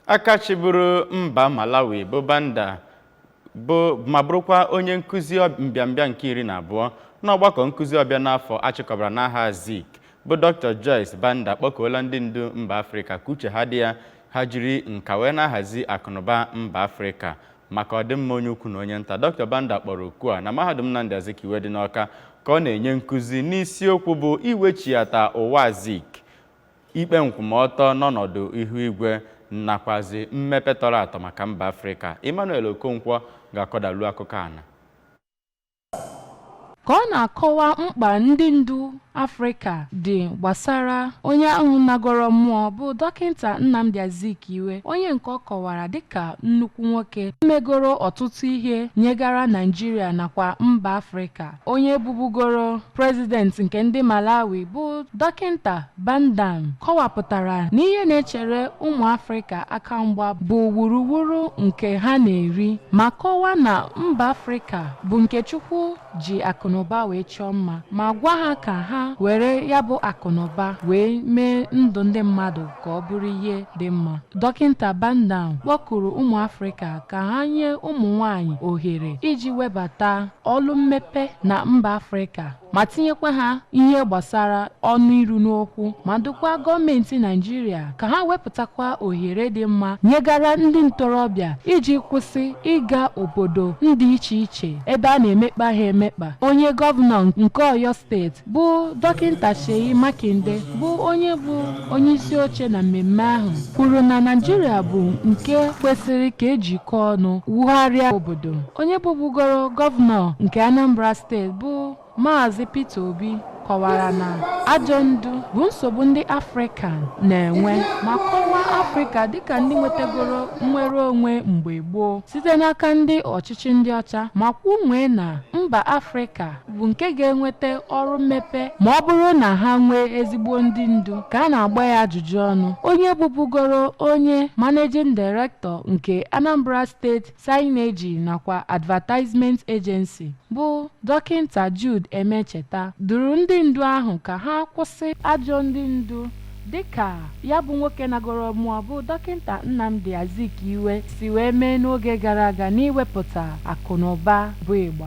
aka chịburu mba malawi bụ banda bụ ma bụrụkwa onye nkụzi ọb- mbịambịa nke iri na abụọ n'ọgbakọ nkụzi ọbịa n'afọ achịkọbara n'aha zik bụ dr joyce banda kpọkuola ndị ndu mba afrịka ka uche ha dị ya ha jiri nka wee na-ahazi akụnụba mba afrịka maka ọdịmma onye ukwu na onye nta dr banda kpọrọ oku a na mahadum nnamdi azikiwe dị n'ọka ka ọ na-enye nkụzi n'isiokwu bụ iwechiata ụwa zik ikpe nkwụmọtọ n'ọnọdụ ihu igwe nakwazi mmepe tọrọ atọ maka mba Afrịka. Emmanuel Okonkwo ga-akọdalu akụkọ a na. Ka ọ na-akọwa mkpa ndị ndu Afrịka dị gbasara onye ahụ nagoro mmụọ bụ Dọkịta Nnamdi Azikiwe, onye nke ọ kọwara dịka nnukwu nwoke megoro ọtụtụ ihe nyegara Naịjirịa nakwa mba Afrịka. onye bụbugoro prezident nke ndị malawi bụ dọkịnta banda kọwapụtara na ihe na-echere ụmụ afrịka aka mgba bụ wuruwuru nke ha na-eri ma kọwaa na mba afrịka bụ nke chukwu ji akụnụba wee chọọ mma ma gwa ha ka ha were ya bụ akụnụba wee mee ndụ ndị mmadụ ka ọ bụrụ ihe dị mma. Dọkịta Banda kpọkuru ụmụ Afrịka ka ha nye ụmụ nwanyị ohere iji webata ọlụ mmepe na mba Afrịka ma tinyekwa ha ihe gbasara ọnụ iru n'okwu ma dụkwa gọọmenti Naịjirịa ka ha wepụtakwa ohere dị mma nyegara ndị ntorobịa iji kwụsị ịga obodo ndị iche iche ebe a na-emekpa ha emekpa. Onye gọvanọ nke Oyo steeti bụ dọkịta Seyi Makinde bụ onye bụ onye isi oche na mmemme ahụ kwuru na Naịjirịa bụ nke kwesịrị ka ejikọ ọnụ wugharịa obodo onye bụbugoro gọvanọ nke Anambra steeti bụ Maazị Peter Obi kọwara na ajọ ndu bụ nsogbu ndị Afrịka na-enwe ma kọwaa Afrịka dịka ndị nwetagoro nnwere onwe mgbe gboo site n'aka ndị ọchịchị ndị ọcha ma kwunwee na mba Afrịka bụ nke ga-enweta ọrụ mmepe ma ọ bụrụ na ha nwee ezigbo ndị ndu ka a na-agba ya ajụjụ ọnụ onye bụbugoro onye managing director nke Anambra State Signage nakwa Advertisement Agency bụ dọkịnta Jude Emecheta dụrụ ndị ndu ahụ ka ha kwụsị ajọ ndị ndu dịka ya bụ nwoke nagoro mmụọ bụ dọkịnta Nnamdi Azikiwe si wee mee n'oge gara aga n'iwepụta akụnụba bụ ịgba